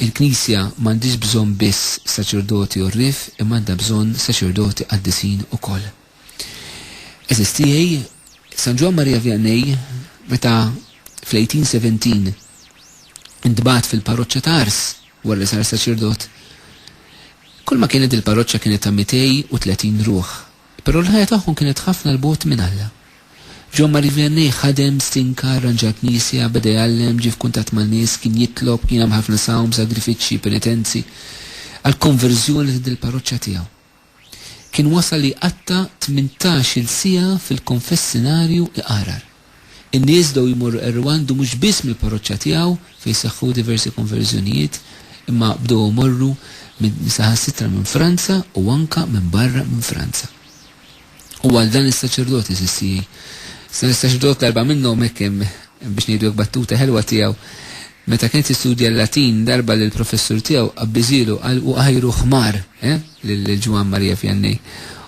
Il-Knisja m'għandhiex bżonn biss saċerdoti għorrief imma għandha bżonn saċerdoti qaddisin ukoll. Għeżież tiegħi, San Ġwann Marija Vianney meta fl-1817 intbagħat fil-parroċċa ta' Ars wara li sar saċerdot, kulma kienet il-parroċċa kienet ta' 230 ruħ. Però l-ħajja tagħhom kienet ħafna 'l bogħod minn Alla. John Marie Vianney ħadem, stinka, arranġa l-knisja, beda jgħallem, ġie f'kuntatt man-nies, kien jitlob, kien jagħmel ħafna sawm, sagrifiċċji, penitenzi, għall-konverżjoni ta' dil-parroċċa tiegħu. Kien wasal li jqatta' tmintax-il siegħa fil-konfessinarju iqarar. In-nies bdew jmorru qerrew għandu mhux biss mill-parroċċa tiegħu fejn seħħu diversi konverżjonijiet, imma bdew imorru minn saħansitra minn Franza u anke minn barra minn Franza. U għal dan is-saċerdot, għeżież tiegħi, dan is-saċerdot l-erbgħa minnhom hekk hemm biex ngħidu hekk battuta ħelwa tiegħu, Meta kien qed jistudja l-Latin, darba li l-professur tiegħu qabbiżielu qal u għajru ħmar, eh, lil Ġwann Marija Vjannij.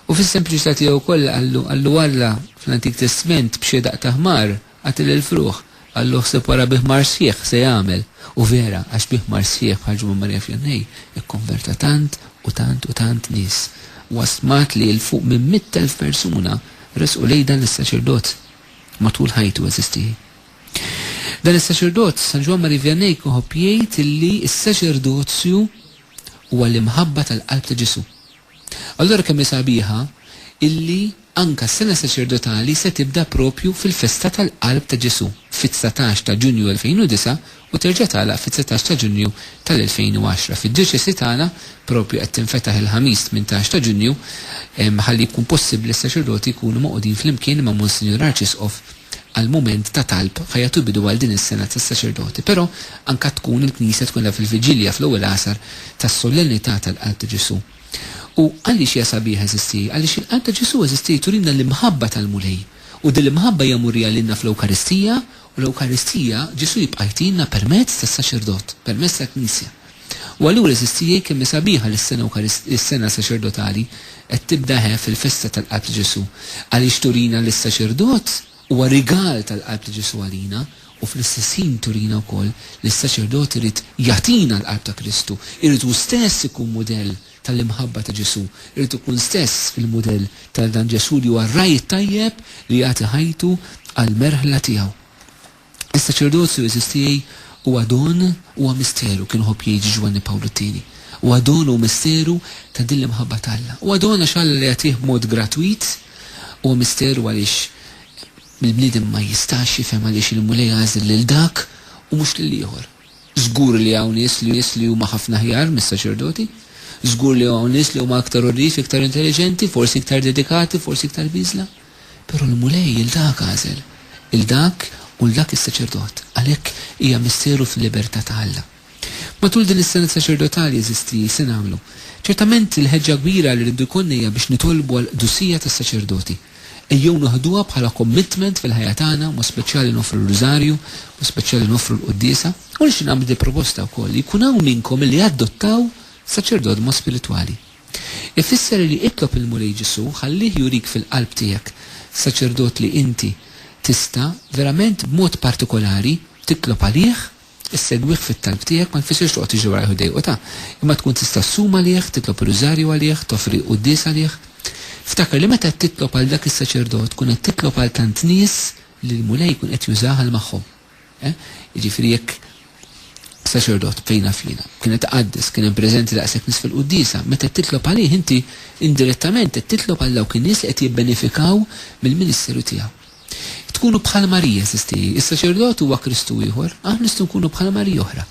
U fis-sempliċità tiegħu kollha qallu, qallu Alla fl-Antik Testment b'xi daqq ta' ħmar qatel il-frugħ, qallu ħseb wara bi ħmar sħiħ se jagħmel. U vera, għax bi ħmar sħiħ bħal Ġwann Marija Vjannij ikkonverta tant u tant u tant nies. Huwa stmat li 'l fuq minn mitt elf persuna resqu lejn dan is-saċerdot matul ħajtu, għeżiż tiegħi. Dan is-saċerdot, San Ġwann Marie Vianney kien iħobb jgħid illi s-saċerdozju huwa l-imħabba tal-qalb ta' Ġesù. Allura kemm hi sabiħa illi anka s-sena saċerdotali se tibda proprju fil-festa tal-qalb ta' Ġesù, fit-dsatax ta' Ġunju 2009 u terġa' tagħlaq fid-dsatax ta' Ġunju tal-2010. Fid-djoċesi tagħna proprju qed tinfetaħ il-Ħamis tmintax ta' Ġunju ħalli jkun possibbli s-saċerdoti jkunu magħqudin flimkien ma' Monsinjur Arċisqof għall-mument ta' talb ħa jagħtu bidu għal din is-sena tas-saċerdoti, però anka tkun il-Knisja tkun edha fil-viġilja fl-ewwel għasar tas-Solennità tal-Qalb ta' Ġesù. U għaliex hija sabiħa eżisti? Għaliex il-Qalb ta' Ġesù eżisti turina l-imħabba tal-Mulej, u din l-imħabba hija murija lilna fl-Ewkaristija, u l-Ewkaristija Ġesù jibqa' jtinna permezz tas-saċerdot, permezz tal-Knisja. U allura għeżież tiegħi kemm hi sabiħa li s-sena Ewkarist, is-sena saċerdotali qed tibda eħe fil-festa tal-Qalb ta' Ġesù, għaliex turina li s-saċerdot huwa rigal tal-Qalb ta' Ġesù għalina u fl-istess ħin turina wkoll li s-saċerdot irid jagħtina l-Qalb ta' Kristu, irid hu stess ikun mudell tal-imħabba ta' Ġesù, irid ikun stess il-mudell tal-dan Ġesù li huwa r-ragħaj it-tajjeb li jagħti ħajtu għall-merħla tiegħu. Is-saċerdozju għeżież tiegħi huwa don, huwa misteru, kien iħobb jgħid Ġwanni Pawlu t-Tieni. Huwa don u misteru ta' din l-imħabba ta' Alla. Huwa don għax Alla li jagħtih b'mod gratwit, huwa misteru għaliex il-bniedem ma jistax jifhem għaliex il-Mulej għażel lil dak u mhux lil ieħor. Żgur li hawn nies li huma ħafna aħjar mis-saċerdoti. Żgur li hawn nies li huma aktar għoddief, iktar intelliġenti, forsi iktar dedikati, forsi iktar biżla. Però l-Mulej lil dak għażel, lil dak u 'l dak is-saċerdot, għalhekk hija missieru fil-libertà ta' Alla. Matul din is-sena saċerdotali, għeżiżti, se nagħmlu? Ċertament, il-ħeġġa kbira li rridu jkollna hija biex nitolbu għall-qdusija tas-saċerdoti. Ejjew noħduha bħala commitment fil-ħajja tagħna, mod speċjali noffru r-Rużarju, mod speċjali noffru l-quddiesa. U nixtieq nagħmel din il-proposta wkoll, li jkun hawn minnkom li jadottaw saċerdot b'mod spiritwali. Ifisser li itlob il-Mulej Ġesù ħallih jurik fil-qalb tiegħek, saċerdot li inti, tista', verament b'mod partikolari, titlob għalih, issegwih fit-talb tiegħek, ma jfissirx toqgħod tiġri warajh u ddejqu ta', imma tkun tista' ssum għalih, titlob ir-Rużarju għalih, toffri quddies għalih. Ftakar li meta qed titlob għal dak is-saċerdot tkun qed titlob għal tant nies li l-Mulej jkun qed jużah għal magħhom. Eh? Jiġifieri jekk saċerdot fejna fina, kienet tqaddis, kien hemm preżenti daqshekk nies fil-quddiesa, meta qed titlob għalih inti indirettament qed titlob għal dawk in-nies li qed jibbenefikaw mill-ministeru tiegħu. Tkunu bħal Marija, sistiji, is-saċerdot huwa Kristu ieħor, aħna nistgħu nkunu bħal Marija oħra.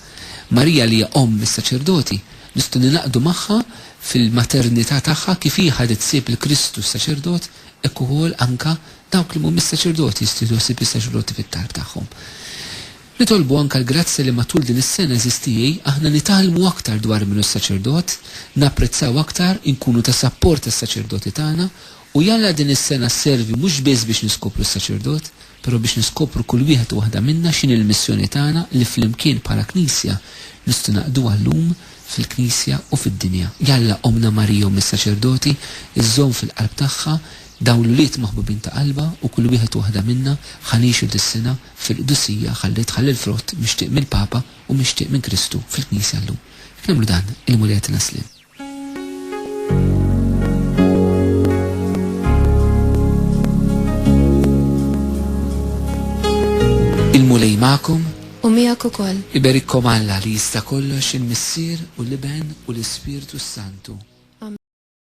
Marija li hija omm is-saċerdoti, nistgħu ninaqdu magħha fil-maternità tagħha kif hi ħadet sib il-Kristu s-saċerdot hekk ukoll anka Dawk li mhumiex saċerdoti jistgħu jieħdu ħsieb lis-saċerdoti fit-talb tagħhom. Nitolbu anke l-grazzja li matul din is-sena, għeżież tiegħi, aħna nitgħallmu aktar dwar min hu s-saċerdot, napprezzaw aktar, inkunu ta' sapport għas-saċerdoti tagħna, u jalla din is-sena sservi mhux biss biex niskopru s-saċerdot, però biex niskopru kull wieħed u waħda minna x'inhi l-missjoni tagħna li flimkien bħala Knisja nistgħu naqduha llum fil-Knisja u fid-dinja. Jalla Ommna Marija Omm is-Saċerdoti żżomm fil-qalb tagħha Dawn l-ulied maħbubin ta' qalbha u kull wieħed u waħda minna ħa ngħixu dis-sena fil-qdusija ħalli tħalli l-frott mixtieq mill-Papa u mixtieq minn Kristu fil-Knisja llum. Jekk nagħmlu dan, il-Mulej jagħtina s-sliem. Il-Mulej magħkom. U miegħek ukoll. Iberikkom Alla li jista' kollox, il-Missier u l-Iben u l-Ispirtu s-Santu.